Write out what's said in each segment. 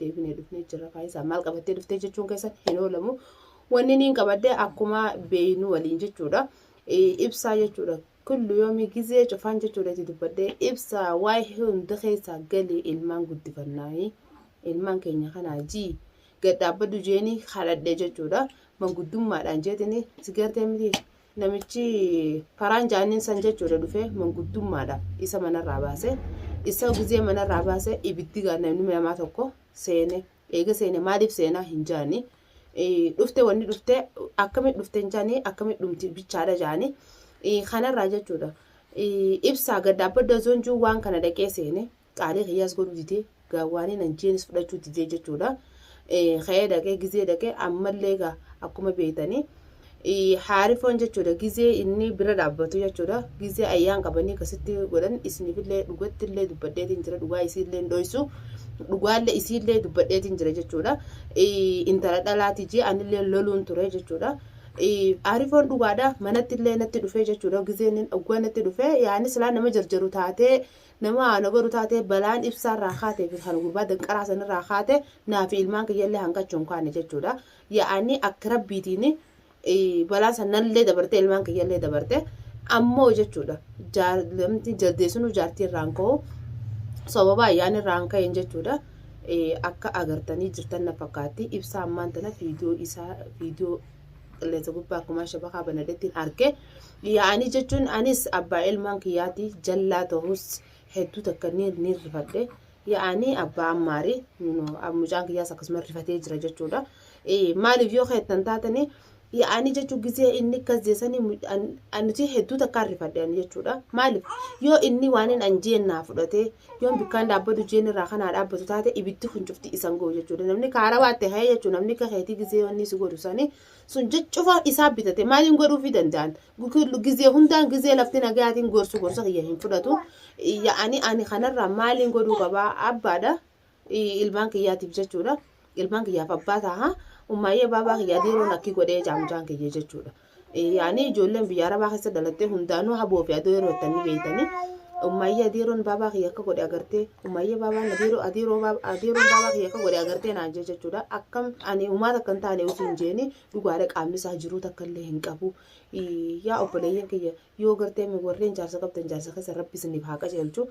deebinee dhufnee jirra faayisaa maal qabattee dhuftee jechuun keessan hin oolamu wanni niin qabadde akkuma beeynu waliin jechuudha ibsaa jechuudha kullu yoomii gizee cufaan jechuudha itti dubbadde ibsaa waa'ee hunda keessaa galii ilmaan guddifannaanii ilmaan keenya kanaa jii gad dhaabbadhu jeeni kadhadhe jechuudha manguddummaadhaan jeetini sigartee miti Namichi karaan jaaniin san jechuudha dhufe manguddummaadha isa manarraa baase isa gizee manarraa baase ibiddi namni namaa tokko seene eega seene maaliif seenaa hin jaani dhufte wanni dhufte akkamit dhufte hin jaani akkamit dhumti bichaadha jaani kanarraa jechuudha ibsaa gadda abba dazoonjuu waan kana dhaqee seene Qaalii kiyyaas godhuu didee gaawwaaniin an jeenis fudhachuu didee jechuudha. Ka'ee dhaqee gizee dhaqee ammallee egaa akkuma beektanii haarifoon jechuudha gizee inni bira dhaabbatu jechuudha gizee ayyaan qabanii akkasitti godhan isinifillee dhugattillee dubbadheetiin jira dhugaa isiillee hin dhoysu dhugaallee isiillee dubbadheetiin jira jechuudha intala dhalaati jee anillee loluun ture jechuudha. Haarifoon dhugaadha manattillee natti dhufee jechuudha gizeen oggaa natti dhufee yaani silaa nama jarjaru taatee Nama aanoo baru taatee balaan ibsaa irraa kaatee fi kan gurbaa danqaraa san irraa kaate naa fi ilmaan kiyyallee hanqachuu hin kaane jechuudha. Yaa'anii akka rabbiitiin balaan san nallee dabarte ilmaan kiyyallee dabarte ammoo jechuudha. Jaalamti jaldeessunuu jaartii irraan ka'u sababa ayyaana irraan ka'een jechuudha. Akka agartanii jirtan na fakkaatti ibsaa ammaan tana viidiyoo isaa viidiyoo qilleensa gubbaa kumaa shabakaa banadeettiin arge. yaa'anii jechuun anis abbaa ilmaan kiyyaati jallaa ta'us hedduu takka ni ni rifadhe yaa'anii abbaa ammaarii nu- nu- mucaan kiyyaas akkasuma rifatee jira jechuudha Eh, maaliif yoo keettan taatanii yaa'anii jechuun gisee inni akkas jeesanii mu- an- an- nuti hedduu takka rifadhe ani jechuudha maaliif yoo inni waan hin anjeen naa fudhatee yoo bikkaan dhaabbatu jeen irraa kanaa dhaabbatu taate ibiddi kun cufti isan ga'u jechuudha namni kaara waatte ka'ee jechuudha namni akka keetii gisee wanni si godhu sanii sun cufa isaa bitate maaliin godhuufii danda'an gizee hundaan gizee lafti nagayaatiin gorsu gorsa kiyya hin fudhatu yaa'anii ani kanarraa maaliin godhuu qabaa abbaadha ilmaan kiyyaatiif jechuudha ilmaan kiyyaaf abbaa taha ummaayyee baabaa kiyyaa diiroon akki godhee jaamjaan kiyya jechuudha yaa'anii ijoolleen biyya arabaa keessa dhalattee hundaanuu haboo fi adoo yeroo itti beeytanii ummaayyee diiroon baabaa kiyya akka godhe agartee Umayyee baabaan adiiroo adiiroo baaba adiiroon baabaa kiyya akka godhe agartee naan jee jechuudha. Akkam ani umaa takka hin taane utuu hin jeeni dhugaadha qaamni isaa jiruu takka illee hin qabu. Ii, Yaa obboleeyyan kiyya yoo gartee mi warreen jaarsa qabdan jaarsa keessa rabbi isiniif haa qajeelchu.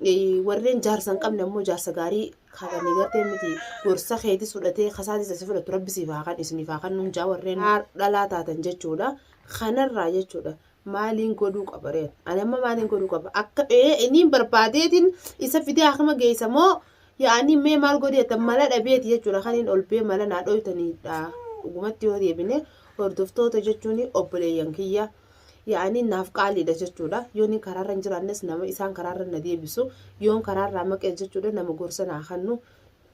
Ii, Warreen jaarsa hin qabne ammoo jaarsa gaarii kabanii gartee miti gorsa keetis fudhatee kasaatis asi fudhatu rabbi siif haa kan isiniif haa kan nuun jaa warreen dhalaa taatan jechuudha. Kanarraa jechuudha. maaliin godhuu qaba reen ani amma maaliin godhuu qaba akka ee iniin barbaadeetiin isa fidee akkama geessa moo yaa'anii mee maal godhee tan mala dhabeeti jechuudha kan hin olbee mala naa dhoytaniidha dhugumatti yoo deebine hordoftoota jechuun obboleeyyan kiyya yaa'anii naaf qaaliidha jechuudha yoo ni karaarra hin jiraannes nama isaan karaarra na deebisu yoon karaarraa maqee jechuudha nama gorsa naa kennu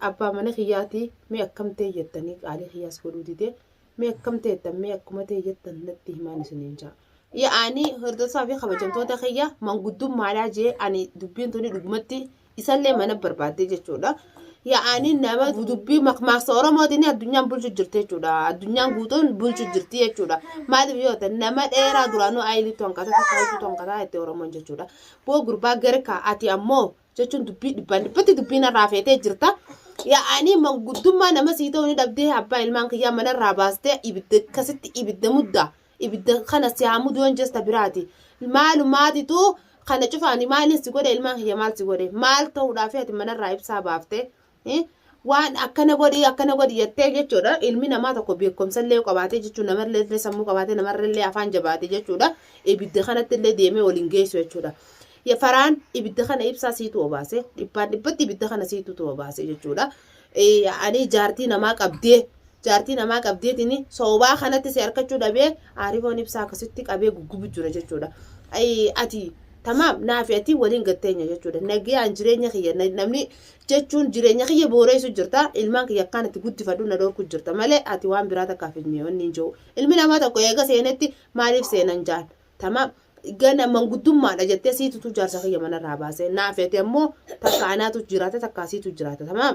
abbaa mana kiyyaatii mee akkamtee jettanii qaalii kiyyaas godhuu didee Mee akkam teettan mee akkuma ta'e jettan natti himaan isiniin ja'a. Yaa'anii hordofaa fi kabajamtoota kiyya manguddummaadhaa jee ani dubbiin tuni dhugumatti isallee mana barbaaddee jechuudha. Yaa'anii nama dubbii makmaaksa Oromootiin addunyaan bulchu jirti jechuudha. Addunyaan guutuun bulchu jirti jechuudha. Maaliif yoo ta'e nama dheeraa duraanuu ayiliitu hanqata takka ayiliitu hanqata itti Oromoon jechuudha. Boo gurbaa garkaa ati ammoo jechuun dubbii dhibbaan dhibbatti dubbii narraa feetee jirta. Yaa'anii manguddummaa nama sii ta'uu ni dhabdee abbaa ilmaan kiyyaa manarraa baastee ibidda akkasitti ibidda muddaa. Ibidda kana si haa muduu hin jesta biraati. Maalumaatitu kana cufaani maaliin si godhe ilmaan kiyya maal si godhe maal ta'uudhaaf ati manarraa ibsaa baaftee waan akkana godhi akkana godhi jettee jechuudha ilmi namaa tokko beekumsa illee qabaatee jechuun namarlee illee sammuu qabaatee namarra illee afaan jabaate jechuudha ibidda kanatti illee deemee waliin geessu jechuudha. Faraan ibidda kana ibsaa siitu obaase dhibbaan dhibbatti ibidda kana siitu obaase jechuudha. Ani jaartii namaa qabdee jaartii namaa qabdeetiin soobaa kanatti si harkachuu dhabee aarifoon ibsaa akkasitti qabee guggubu jira jechuudha. Ati tamaam naafi ati waliin gatteenya jechuudha. Nagiyaan jireenya kiyya namni jechuun jireenya kiyya booreessu jirta ilmaan kiyya akkaan itti guddifadhu na dhorku jirta malee ati waan biraa takkaaf hin mi'oonni hin jiru ilmi namaa tokko eega seenetti maaliif seenan jaan tama gana manguddummaadha jettee siitutu jaarsa kiyya manarraa baase naa feete ammoo takka anaatu jiraata takka asiitu jiraata tama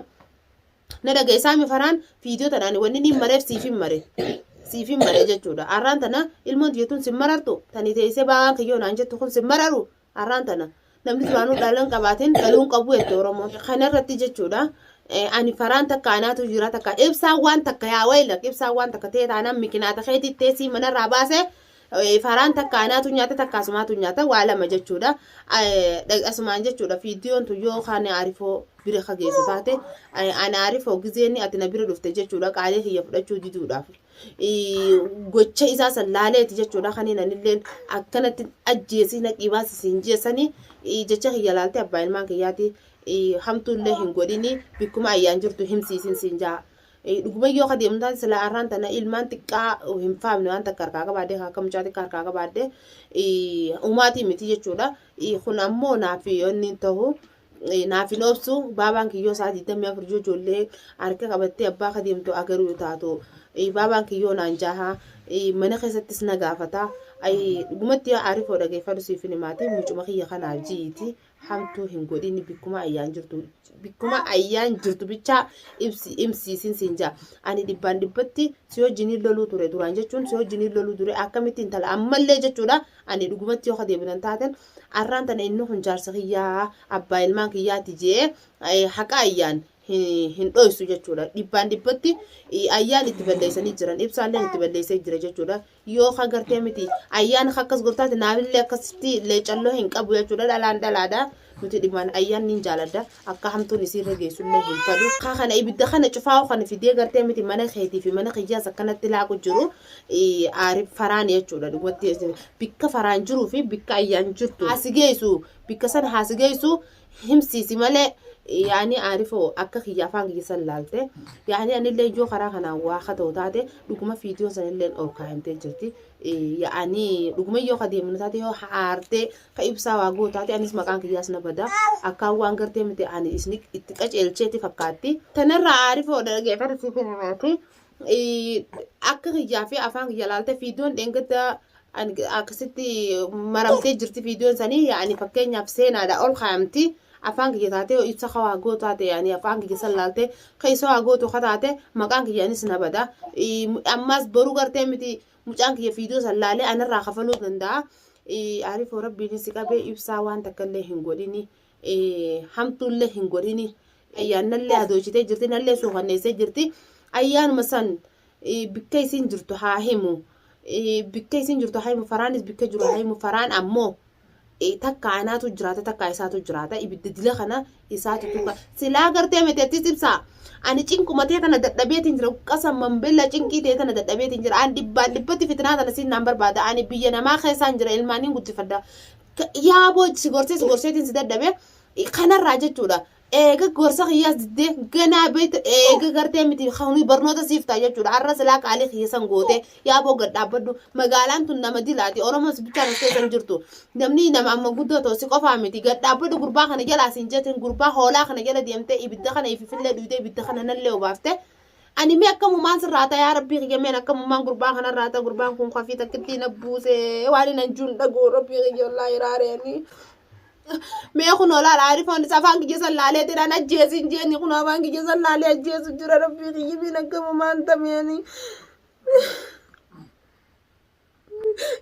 na dhageessaa mi faraan fiidiyoo tanaan wanni niin mareef siif hin mare siif hin mare jechuudha arraan tana ilmoon tiyyatuun sin marartu tani teessee baawaan kiyyoo naan jettu kun sin mararu Har'aan tana namni duraanuu dhalan qabaatiin dhaluun qabu jette Oromoon. Kana irratti jechuudha. Ani faraan takka anaatu jira takka ibsaan waan takka yaa wayilak ibsaan waan takka ta'e taanaan mikinaata keetii teessii manarraa baase faraan takka anaatu nyaata takka asumaatu nyaata waa lama jechuudha. Asumaan jechuudha viidiyoon tun yoo kaan arifoo bira kageessu taate ana arifoo gizeenni ati na bira dhufte jechuudha qaalee kiyya fudhachuu diduudhaaf. gocha isaa san laaleeti jechuudha kaniin anilleen akkanatti ajjeesii naqii baasi siin jeesani jecha kiyya laaltee abbaa ilmaan kiyyaati hamtuullee hin godhini bikkuma ayyaan jirtu himsiisin siin jaa dhuguma yoo kadeemu taate silaa arraan tana ilmaan xiqqaa hin faamne waan takka harkaa qabaadde akka mucaa xiqqaa harkaa qabaadde umaatii miti jechuudha kun ammoo naaf yoonni tahu naaf hin obsu baabaan kiyyoo isaa 24 yoo ijoollee harka qabattee abbaa ka deemtu agaruu taatu baabaan kiyyoo naan jaaha mana keessattis na gaafata dhugumatti yaa aarifoo dhageeffadhu siif hin himaati mucuma kiyya kanaaf ji'iiti hamtuu hin godhin bikkuma ayyaan jirtu bikkuma ayyaan jirtu bichaa ibsi ibsiisin siin jaa ani dhibbaan dhibbatti si wajjiniin loluu ture duraan jechuun si wajjiniin loluu ture akkamitti intala ammallee jechuudha ani dhugumatti yoo ka deebinan taatan Arraan tana inni kun jaarsa kiyyaa abbaa ilmaan kiyyaati jee haqa ayyaan hin dhoysu jechuudha. Dhibbaan dhibbatti ayyaan itti balleessanii jiran ibsaalleen itti balleessee jira jechuudha. Yoo ka gartee miti ayyaan ka akkas gortaati naamillee akkasitti leecalloo hin qabu jechuudha dhalaan dhalaadha. Nuti dhibbaan ayyaan niin jaaladha. akka hamtuun isiirra geessullee hin fedhu. Kaa kana ibidda kana cufaa'u kan fidee gartee miti mana keetii fi mana kiyyaas akkanatti laaqu jiru aariif faraan jechuudha dhugumatti bikka faraan jiruu fi bikka ayyaan jirtu haasi geessu bikka san haasi geessu himsiisi malee yaani aarifoo akka kiyya afaan kiyya san laalte yaani anillee yoo karaa kanaan waa kata'u taate dhuguma fiidiyoo sanillee ol kaa'imtee jirti yaani dhuguma yoo kadeemnu taate yoo haartee ka ibsaa waa gootaati anis maqaan kiyyaas na bada akkaan waan gartee miti ani isni itti qaceelcheeti fakkaatti tanarraa aarifoo dhageeffata siif himaati akka kiyyaa fi afaan kiyya laalte fiidoon dheengadda akkasitti maramtee jirti fiidoon sanii yaani fakkeenyaaf seenaadha ol kaayamti afaan kiyya taatee ibsa ka waa gootaa ta'e ani afaan kiyya san laalte ka isa waa gootu ka taate maqaan kiyya anis na bada ammaas boruu gartee miti Mucaan kiyya fiidoo san laalee anarraa kafaluu danda'a. Arifoo rabbiin si qabee ibsaa waan takkallee hin godhini. Hamtuullee hin godhini. Ayyaannallee adoochitee jirti nallee suukanneessee jirti. Ayyaanuma san bikka isiin jirtu haa himu. Bikka isiin jirtu haa himu. Faraanis bikka jiru haa himu. Faraan ammoo takka anaatu jiraata takka isaatu jiraata ibidda dila kana isaatu tuqa silaa gartee miti attis ibsaa ani cinquma tee tana dadhabeetiin jira qasa mambella cinqii tee tana dadhabeetiin jira an dhibbaan dhibbatti fitnaa tana siin naan barbaada ani biyya namaa keessaan jira ilmaaniin guddifadha yaaboo si gorsee si gorseetiin si dadhabe kanarraa jechuudha eega gorsa kiyyaas diddee ganaa beektu eega gartee miti kuni barnoota siif ta'a jechuudha har'a silaa qaalii kiyya san goote yaa boo gad dhaabbadhu magaalaan tun nama dilaati oromoon si bichaan as keessa hin jirtu namni nama amma guddoo ta'u si qofaa miti gad dhaabbadhu gurbaa kana jalaa siin jetin gurbaa hoolaa kana jala deemtee ibidda kana ififillee dhuyde ibidda kana nallee obaafte ani mee akkamumaan sirraa ta'a yaa rabbii kiyya meen akkamumaan gurbaa kanarraa ta'a gurbaan kun kafii takkittii na buusee waan hin anjuun dhagoo rabbii kiyya ollaa iraaree ani mee kun olaal aarifoon isa afaan kiyya san laalee jedhaan ajjeesiin jeeni kun afaan kiyya san laalee ajjeesu jira rabbii kiyya miin akkama maan tameeni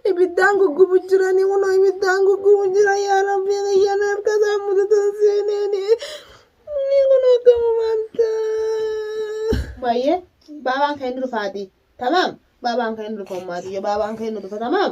ibiddaan guggubu jirani kun ibiddaan guggubu jira yaa rabbii kiyya na harka isaa mudatan seeneeni ni kun akkama maan taa baay'ee baabaan kee ni dhufaatii tamaam baabaan kee ni dhufa ummaatiyyo baabaan kee ni dhufa tamaam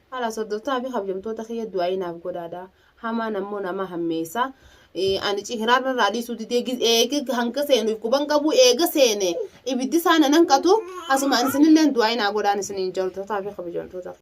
Kalaas hordoftotaa fi kabjamtoota kiyya du'aa'ii naaf godhaadha. Hamaan ammoo nama hammeessa. Ani cihiraan irraa dhiisuu didee eega hanga seenuuf quban qabu eega seene ibiddi isaa nan hanqatu asumaan isinillee du'aa'ii naa godhaan isiniin jaaltotaa fi kabajamtoota.